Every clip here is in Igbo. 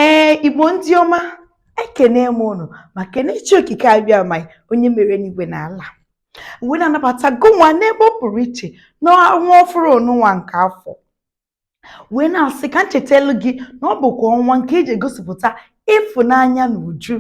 ee igbo ndị ọma ekene m unu ma kene chi okike abịama onye mere enigwe na ala wee na-anabata gụnwa n'ebe ọ pụrụ iche n'ọnwa ọfụrụ onụnwa nke afọ wee na-asị ka m chetelu gị na ọ bụkwa ọnwa nke eji egosipụta ịfụnanya n'uju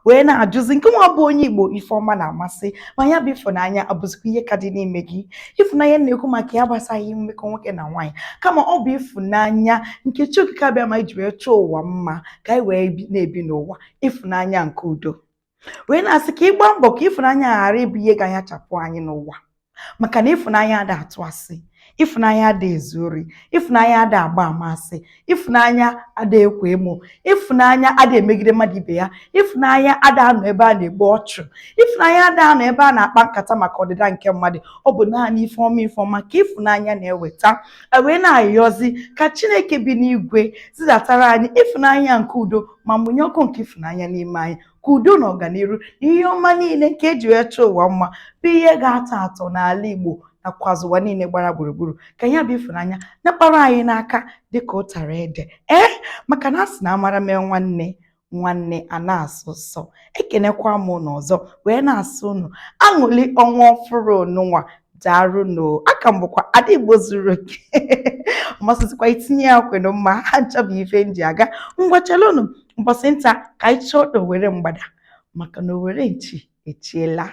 wee na-ajụzi nke nwa bụ onye Igbo ife ọma na-amasị ma ya bụ ịfụnanya abụzikwa ihe ka dị n'ime gị ịfụnanya a na-ekwu maka ya agbasaghị mmekọ nwoke na nwaanyị kama ọ bụ ịfụnanya nke chi okike abịama ji wee chọọ ụwa mma ka anyị wee na-ebi n'ụwa ịfụnanya nke udo wee na-asị ka ị gbaa mbọ ka ịfụnanya ghara ịbụ ihe ga-anyachapụ anyị n'ụwa maka na ịfụnanya ada atụ asị ịfụnanya ada ezu ori ịfụnanya ada agba ama asị ịfụnanya ada ekwo emo ịfụnanya ada emegide mmadụ ibe ya ịfụnanya ada anọ ebe a na-egbu ọchụ ịfụnanya ada anọ ebe a na-akpa nkata maka ọdịda nke mmadụ ọ bụ naanị ife ọma ife ọma ka ịfụnanya na-eweta e wee na-ayọzi ka chineke bi n'igwe zidatara anyị ịfụnanya nke udo ma mụnye ọkụ nke ịfụnanya n'ime anyị ka udo na ọganiru na ihe ọma niile nke eji wee chọọ ụwa mma bụ ihe ga-atọ atọ n'ala Igbo nakwazi ụwa niile gbara gburugburu ka ya bụ ịfụnanya nakpara anyị n'aka dịka ụtara ede ee maka na a sị na a mara mee nwanne nwanne ana-asọ ụsọ ekenekwa m ụnụ ọzọ wee na-asị ụnụ aṅụli ọnwa ọfụrụ onụnwa daalụ nụ a ka m bụkwa ada igbo zuru oke ọmasịzikwa itinye ya kwenu mma ha nchọbụ ife m ji aga ngwachalụnụ mbọsị nta ka anyị chụọ owere mgbada maka na owere nchi echiela